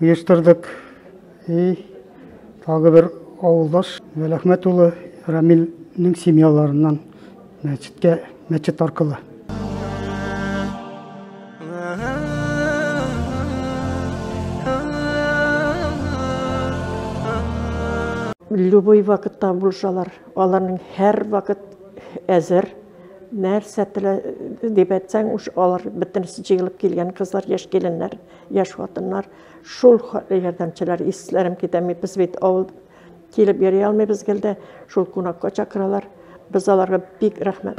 оештырдык. И тагы бер авылдаш Вәләхмәт улы Рамилнең семьяларыннан мәчеткә мәчет аркылы. Любой вакытта булышалар. Аларның һәр вакыт әзер. Нәрсә телә дип әйтсәң, алар бөтенесе җыелып килгән кызлар, яшь киленнәр. Яшь хатыннар, шул ярдәмчеләр, исләрем китә, без бит авыл килеп йөри алмыйбыз гел дә, шул кунакка чакыралар. Без аларга бик рәхмәт.